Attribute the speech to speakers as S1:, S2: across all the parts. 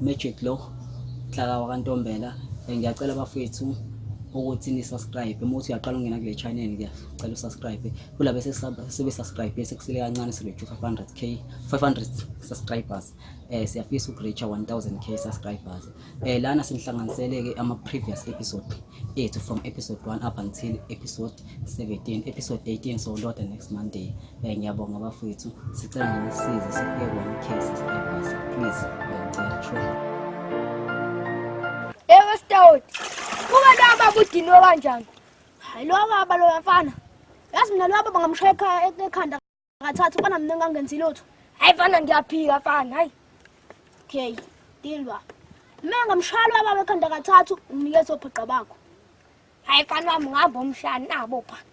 S1: Magic lo Nhlaka wakantombela eh, ngiyacela bafethu ukuthi ni subscribe uma uthi uyaqala ungena kule channel ke cela usubscribe kulabo sebe subscribe bese kusele kancane sibe 500k 500 subscribers eh siyafisa ukureach 1000k subscribers eh lana sinihlanganiseleke ama previous episode ethu from episode 1 up until episode 17 episode 18 so loda next monday eh ngiyabonga bafethu sicela nisize sifike ku 1k subscribers please ngiyacela true
S2: ewe stout kuba naba budinwe kanjani hayi lo baba lo mfana yazi mina lo baba ngamshaya ekhanda Akathatha ufana mina ngangenzi lutho. Hayi fana ngiyaphika fana hayi. Okay, deal ba. Mina ngamshalo baba ekhanda kathathu unikeza obhaqa bakho. Hayi fana wami ngihamba umshana nabo bhaqa.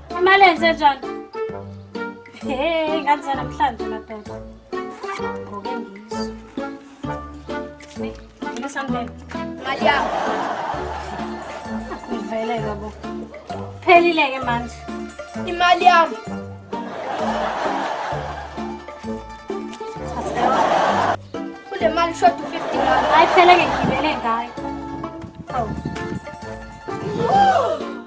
S2: Imali enze njani?
S3: Hey, nganze namhlanje madoda. Ngoke ngizo. Hey, ngine sandele. Mali
S2: yami.
S3: Ngivele babo. Phelile ke manje. Imali
S2: yami. Kule mali short 50 rand. Hayi phela ke ngibele
S3: ngayo. Awu.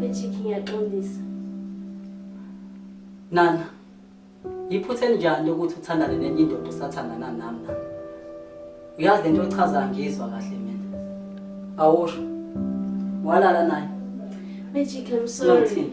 S2: Bejiki ngiyaxolisa. Nana, iphutha elinjani lokuthi uthandane nenye indoda usathandana nami nana. Uyazi lento ochazayo ngizwa kahle mina. Awusho. Walala naye. Bejiki I'm
S3: sorry. Nothing.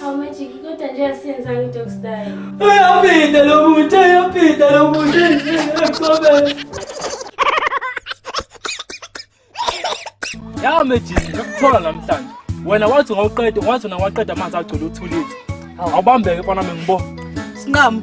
S3: Hawu Magic, kodwa nje asiyenzanga
S1: i-dog style. Uyaphinda lo muntu, uyaphinda lo
S4: muntu. Ngiyakubona. Ya Magic, ngikuthola namhlanje. Wena wathi ngawuqeda, wathi wena waqeda amanzi agcwele uthulile. Awubambeke mfana wami ngibona. Sinqamu.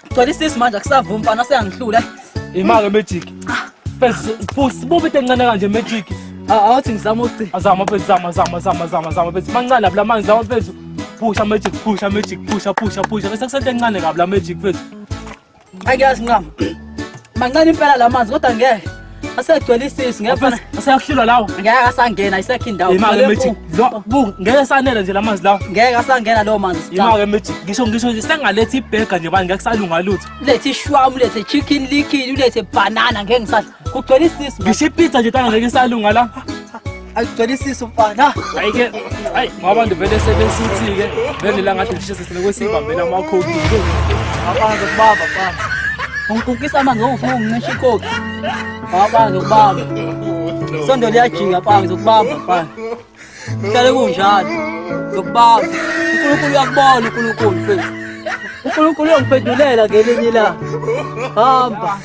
S1: Cela isisi manje akusavumi mfana seyangihlula. Imake magic.
S4: Bese sibubi tencane kanje magic. Awuthi ngizama
S1: uthi. Azama bese zama zama
S4: zama zama zama bese mancane lapha manje zama bese pusha magic pusha magic pusha pusha pusha bese kusente encane kabi la magic bese. Angiyazi
S1: nqama. Mancane impela la manzi kodwa ngeke. asegcwele isisi ngeke asayahlulwa lawo ngeke
S4: asangena
S1: isakhe indawo imake mithi
S4: bu ngeke sanele nje lamanzi lawo ngeke asangena lo
S1: manzi imake mithi ngisho
S4: ngisho nje sengalethe ibhega nje bani ngeke salunga lutho ulethe shwamu ulethe
S1: chicken liquid ulethe banana ngeke ngisadla kugcwele isisi ngisho ipizza nje tanga
S4: ngeke salunga la ayigcwelisise
S1: umfana
S4: hayi ke hayi ngoba ndivele sebesithi ke vele la ngathi ngishise sile kwesibambela amakhodi abantu kubaba
S1: mfana ungikukisa amanzi ongifuna ungincisha ikhodi abantu kubaba sondo liyajika mfana ngizokubamba mfana hlale kunjalo ngizokubamba unkulunkulu uyakubona unkulunkulu mfethu unkulunkulu uyongiphendulela ngelinye ilanga hamba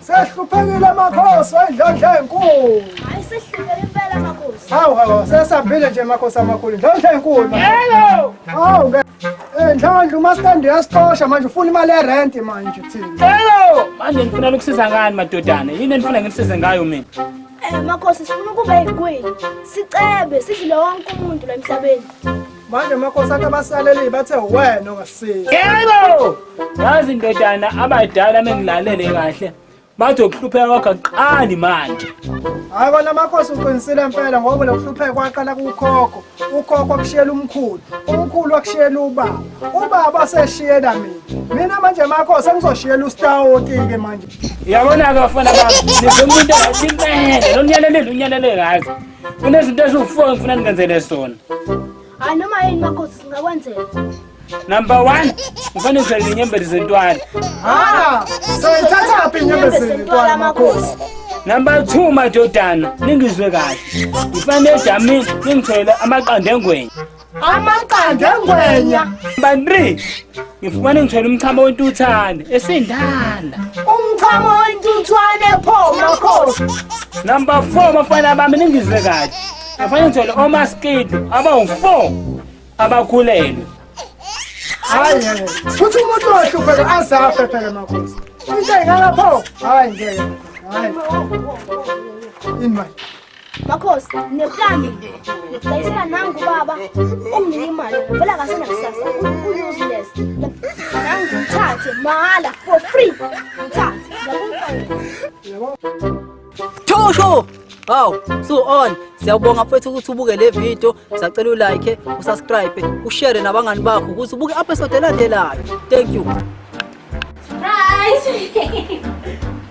S5: sehluphekile amakhosi wendlondla enkulu hayi sehluphekile impela amakhosi hawu
S2: hawu sesambile
S5: nje amakhosi amakhulu ndlondla enkulu yebo hawu ke eh, ndlondla umastand uyasixosha manje ufuna imali yerenti manje thina yebo manje
S4: ngifuna ukusiza ngani madodana yini enifuna nginisize ngayo mina eh makhosi
S2: sifuna ukuba yikweli sicebe sidlule wonke umuntu la emhlabeni manje amakhosi
S5: akhe abasaleli bathe wena ongasiza yebo
S4: yazi ndodana abadala mengilalele kahle bathi ukuhlupheka kwakho akuqali manje hayi kona
S5: amakhosi uqinisile mpela ngoba lokuhlupheka kwaqala kukhokho ukhokho akushiyela umkhulu umkhulu akushiyela ubaba ubaba seshiyela mina mina manje amakhosi angizoshiyela ustawoti-ke manje yabona-ke bafana
S4: bami nizomuntu engathi impele lo nyalelele unyalele ngazi Kunezinto eziwu-four engifuna ningenzele zona. Hayi noma
S2: yini makhosi singakwenzela.
S4: Number one, ngifuna ngizele inyembezi zentwala. Ah,
S5: soyithathaphi inyembezi zentwala makhosi? Number two,
S4: madodana, ningizwe kahle. Ngifana edamini ningithele amaqanda engwenya.
S5: amaqanda engwenya bandri
S4: ngifumane ngithwele umchamo wentuthane esindala umchamo
S5: wentuthwane pho makhosi number
S4: 4 bafana bami ningizwe kahle ngifane ngithwele omaskidi abawu-4 abakhulelwe
S5: hayi futhi umuntu ohlupheka azafe phela makhosi into engalapho hayi ngeke hayi ini manje
S2: Makhosi, ngineplani ngidayisela nangu ubaba onginika imali ngivela kahle nakusasa u-useless nangu ngithathe mahhala for free ngithathe
S1: Thosho! Haw, so on. Siyabonga mfethu ukuthi ubuke le video, sacela ulike, usubscribe, ushare nabangani bakho ukuthi ubuke episode elandelayo. Thank you. Surprise!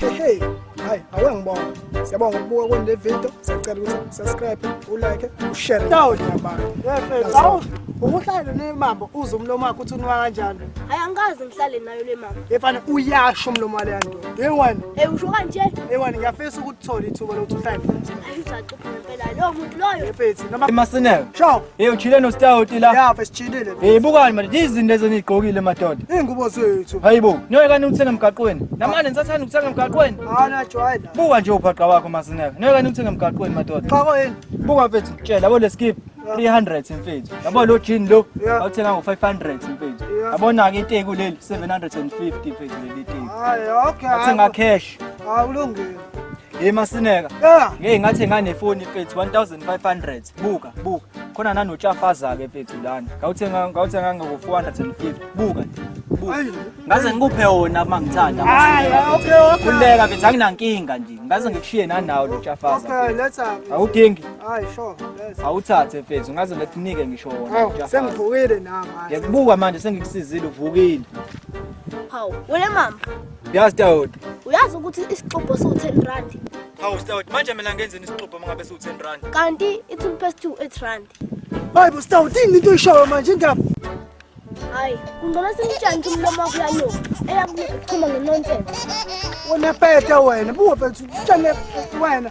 S5: hehe hayi awe ngibonga siyabonga ukubuka kwenu le video siyacela ukuthi subscribe ulike ushare nabanye abantu ukuhlale nemambo uze umlomo wakho uthi unwa kanjani hayi angikaze ngihlale
S2: nayo le mama efana uyasho
S5: umlomo waleya nto yeyi wani eyi usho kanje
S2: eyi wani ngiyafisa
S5: ukuthola ithuba lokuthi uhlale
S2: Masinelo.
S5: Sho. Hey
S6: uchile
S5: no stout la. Yeah,
S6: besichilile. Hey
S5: bukani manje
S6: izinto lezi enigqokile madoda. Ingubo zethu.
S5: Hayibo, niyoye kani uthenge
S6: emgaqweni. Namanje nisathanda ukuthenge emgaqweni. Hana jwayela.
S5: Buka nje ubhaqa wakho
S6: Masinelo. Niyoye kani uthenge emgaqweni madoda. Cha koyini? Buka
S5: mfethu ngitshela
S6: bo leskip. 300 mfethu. Yabo lo jean lo awuthenga ngo 500 mfethu. Yabona ke iteku
S5: leli
S6: 750 mfethu leli iteku. Hayi okay. Athenga
S5: cash.
S6: Awulungile.
S5: Hey
S6: Masineka. Yeah. Ngeke ngathi nganefoni
S5: mfethu 1500.
S6: Buka, buka. Khona nanotshafaza ke mfethu lana. Ngawuthenga ngawuthenga ngo 450. Buka nje. Buka. Ngaze ngikuphe wona uma ngithanda. Hayi, okay, okay.
S5: Kuleka mfethu
S6: anginankinga nje. Ngaze ngikushiye nanawo lo tshafaza. Okay, let's have.
S5: Awudingi. Hayi,
S6: sure.
S5: Let's. Awuthathe
S6: mfethu. Ngaze ngikunike ngisho wona. Awu, sengivukile nami.
S5: Ngiyakubuka manje
S6: sengikusizile uvukile. Hawu,
S2: wena mama. Yazi Stout.
S6: Uyazi ukuthi
S2: isixubho siwu-10 rand. Hawu Stout, manje
S6: mina ngenzeni isixubho mangabe siwu-10 rand? Kanti i-toothpaste
S2: two eight rand. Hayi bo Stout,
S5: yini into oyishoyo manje indaba? Hayi,
S2: kungcono simtshani ukuthi umlomo wakho uyanuka. Eyakuchuma ngenonsense. Wena
S5: peta wena, buwa peta, utshane wena.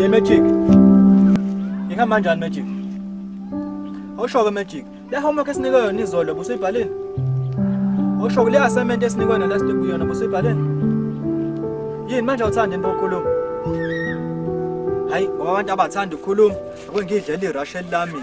S6: Ye Magic. Ihamba kanjani Magic? Awusho ke Magic. Le homework esinikwe yona izolo busuyibhalile. Awusho ke le assignment esinikwe yona last week yona busuyibhalile. Yini manje awuthandi into okhuluma? Hayi, ngoba abantu abathanda ukukhuluma, akungidlela irush elami.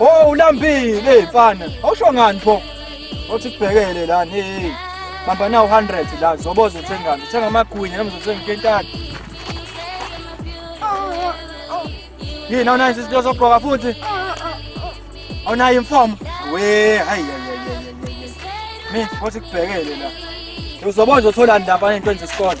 S6: Oh ulambile mfana. Awusho ngani pho? Othi kubhekele la hey. Bamba na 100 la zoboza uthengani. Uthenga amagwinya noma uzothenga ikentathu. Yini awunayo izinto zokugqoka futhi? Awunayo imfomo? We hayi hayi hayi. Mi, othi kubhekele la. Uzoboza uthola ndaba into enze isikole.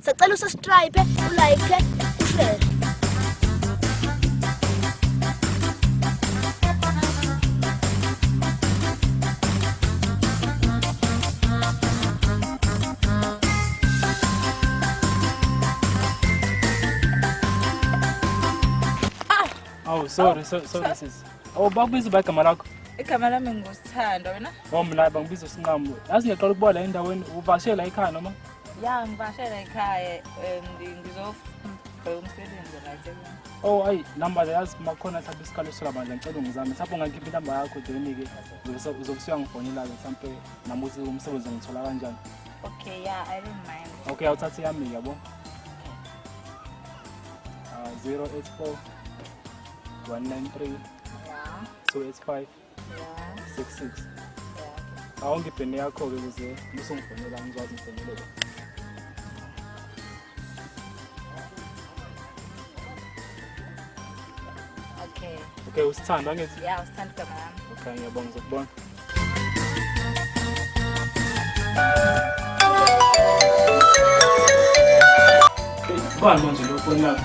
S2: Sacela usubscribe, ulike, ushare.
S4: Oh, sorry, so, sorry sis. Oh, bakubiza uba igama lakho. Igama lami
S3: ngusithando wena. Oh, mna bangibiza
S4: usinqamu. Yazi ngiyaqala ukubola endaweni uvashela ekhaya noma? ya ngibashela
S3: ekhaya um, ngizobheka umsebenzi right ekhaya. oh ayi
S4: namba yazi makhona mhlawumbe isikalo sola bandla ngicela ungizame mhlawumbe ungakhipha inamba yakho joni-ke uzobe usuyangifonela-ke mhlawumbe nami ukuthi umsebenzi ngithola kanjani okay ya i don't
S3: mind okay awuthathe yami
S4: yabo uh, 084 193
S3: 285 six six awonke ibheni yakho-ke
S4: kuze musungifonela ngizwazi ngifonelele okay
S3: okay usithanda
S4: angithi ya usithanda igama
S3: lami okay ngiyabonga
S4: ngizokubona Bani manje lo foni yakho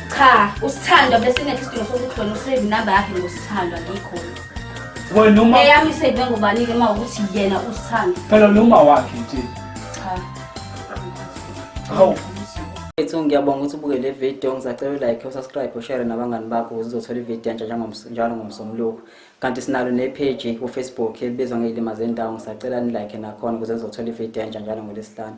S4: Cha,
S7: usithandwa besingekho isidingo sokuthi wena usave inamba yakhe ngosithandwa ngikhona.
S4: Wena uma Eyami isave ngubani
S7: ke uma ukuthi yena usithanda. phela noma wakhe
S4: nje. Cha. Hawu.
S1: Ethu ngiyabonga ukuthi ubuke le video ngizacela like usubscribe ushare nabangani bakho ukuze uzothola ivideo entsha njengoms- njalo ngomsombuluko kanti sinalo ne-page kufacebook elibizwa ngeyilima zendawo ngisacela nilike nakhona ukuze uzothola ivideo entsha njalo ngolwesihlanu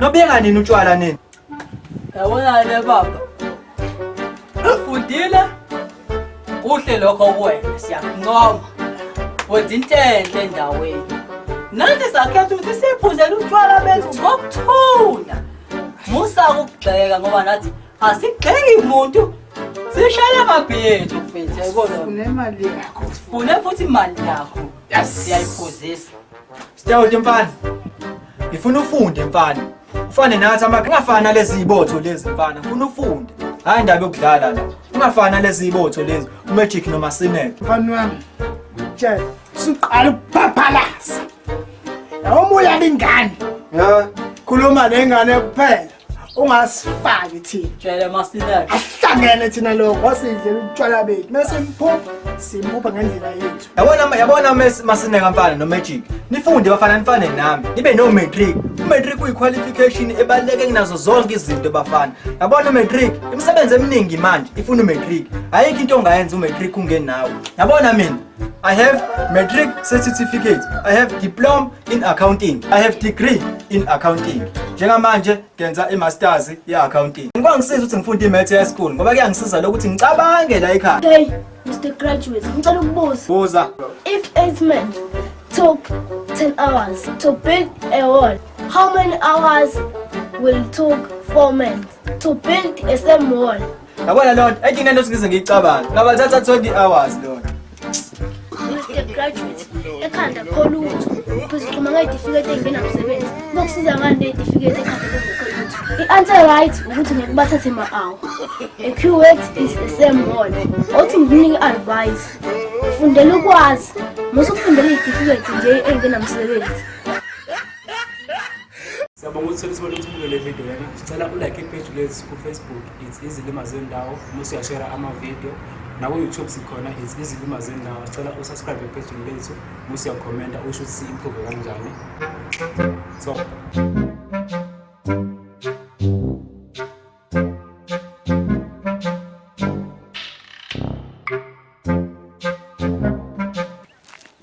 S6: Nobeka nini utshwala nini? Yabona
S8: le baba. Ufundile? Kuhle lokho kuwena siyakuncoma. Wenza into enhle endaweni. Nathi sakhetha ukuthi siphuzele utshwala bethu ngokuthula. Musa ukugxeka ngoba nathi asigxeki umuntu. Sishayela amabhiyethi mfethu yayibona. Unemali yakho.
S5: Sifune futhi imali
S8: yakho. Yes. Siyayiphuzisa. Sitawude
S6: mfana. Ngifuna ufunde mfana. Ufane nathi ama ungafani nalezi ibotho lezi mfana. Ngifuna ufunde. Hayi indaba yokudlala la. Ungafani nalezi ibotho lezi. Magic noma Sinek. Mfana wami.
S5: Tshela. Suqala ukuphaphalaza. Yawo moya lengane. Ya.
S6: Khuluma
S5: nengane kuphela. ungasifaki thina jele masineke
S8: ahlangene thina
S5: lokho wasidlela ubutshwala bethu mase mphupha simphupha ngendlela yethu yabona yabona
S6: masineka mfana no magic nifunde bafana nifane nami nibe no matric umatric kuyiqualification ebaluleke kunazo zonke izinto bafana yabona umatric imisebenzi eminingi manje ifuna umatric ayikho into ongayenza umatric ungenawo yabona mina I have matric certificate. I have diploma in accounting. I have degree in accounting. Njengamanje ngenza i-masters ye-accounting. Ngikwa ngisiza ukuthi ngifunde i-maths high school ngoba kuyangisiza lokuthi ngicabange la ekhaya. Hey, Mr.
S2: Graduate, ngicela ukubuza. Buza. If
S6: eight men
S2: took 10 hours to build a wall, how many hours will took four men to build a same wall? Yabona lona, I think
S6: nento singize ngiyicabange. Ngabathatha 20 hours lona. Mr. Graduate,
S2: ekhanda kholutho. Uzixhuma ngezitifiketi engenamsebenzi. Bokusiza ngani nezitifiketi ekhanda kholutho? I-answer right ukuthi ngeke bathathe ma-hour. A QX is the same one. Othi ngikunike advice. Fundela ukwazi. Musa ukufundela izitifiketi nje engenamsebenzi.
S4: Siyabonga ukuthi sibone ukuthi ubuke le video lena. Sicela ulike ipage lethu ku-Facebook it's izilima zendawo uma usuyashera ama-video naku-youtube sikhona it's izilima zendawo sicela usubscribe epejini lethu uma usuyakhomenta usho ukuthi si-improve kanjani so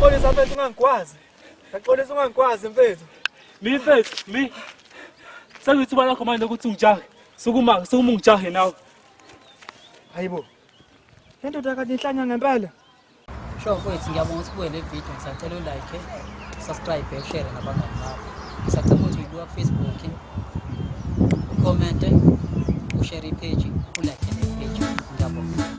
S6: Xolisa mfethu ungangikwazi. Ngixolisa ungangikwazi mfethu. Mi mfethu, mi.
S4: Sekuyithuba lakho manje ukuthi ungijahe. Sukuma, sukuma ungijahe nawe.
S6: Hayibo. Le ndoda kade inhlanya ngempela. Sho
S1: mfethu ngiyabonga ukuthi ubuye le video ngisacela u like, subscribe, share nabangani bakho. Ngisacela ukuthi uyibuka ku Facebook. Comment, ushare page, u like page. Ngiyabonga.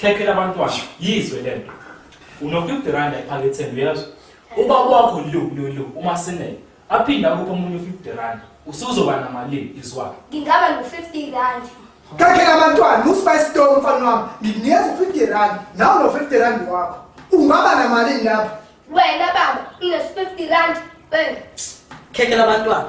S4: Khekhe labantwana yizwe lento. Unokuthi rand ephaketheni uyezwa. Uba kwakho lu lu lu uma sinele aphinda kupha umuntu 50 rand usuzoba namalini izwakhe. Ngingaba no 50
S2: rand. Khekhe labantwana
S5: uSpice Stone mfana wami ngikunikeza 50 rand nawe no 50 rand wakho. Ungaba namalini lapha? Wena baba,
S2: ngine 50 rand. Bang. Khekhe
S8: labantwana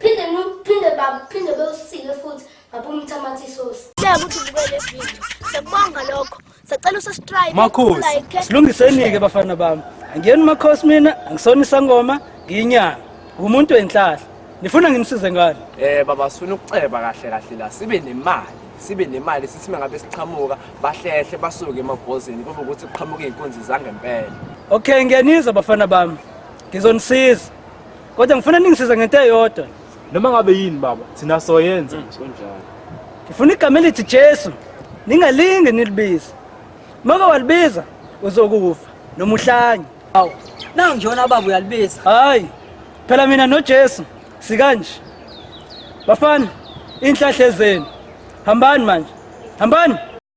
S2: Phinde phinde baba, phinde bewusike futhi ngabumtha amathi isosi. Siyabonga ukuthi ubukele video. Siyabonga lokho. Sacela usubscribe. Makhosi.
S1: Silungiseni ke bafana bami. Angiyeni makhosi mina, angisona isangoma, ngiyinyanga. Ngumuntu wenhlahla. Nifuna ngimsize ngani? Eh baba sifuna ukuceba
S9: kahle kahle la sibe nemali. sibe nemali sithi mangabe siqhamuka bahlehle basuke emabhozini kube ukuthi kuqhamuke izinkunzi zangempela okay ngiyanizwa
S1: bafana bami ngizonisiza Kodwa ngifuna ningisize ngento eyodwa. Noma ngabe yini
S4: baba, thina soyenza mm. nje kunjalo. Ngifuna igama
S1: elithi Jesu. Ningalinge nilibize. Maka walibiza uzokufa noma uhlanye. Hawu, nangu
S8: njona baba uyalibiza. Hayi.
S1: Phela mina noJesu sikanje. Bafana, inhlahle zenu. Hambani manje. Hambani.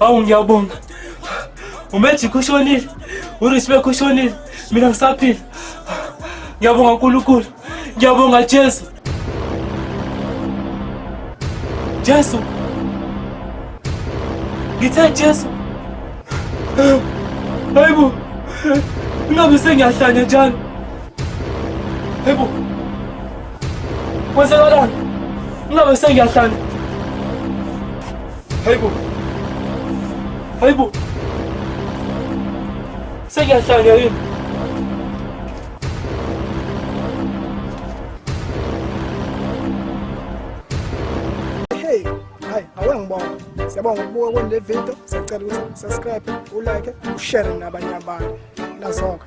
S4: awungiyabonga umejikho ushonile urisbek ushonile mina ngisaphila ngiyabonga nkulunkulu ngiyabonga jesu jesu ngithe jesu hayibo ingabe sengiyahlanya njalo hayibo kwenzakalani ingabe sengiyahlanya Hayibo. Hayibo. Sekuyahlanya yini?
S5: Hey, hayi awangibona. Siyabonga ukubuka kwendle video. Siyacela ukuthi subscribe, ulike, ushare nabanye abantu. Nazoka.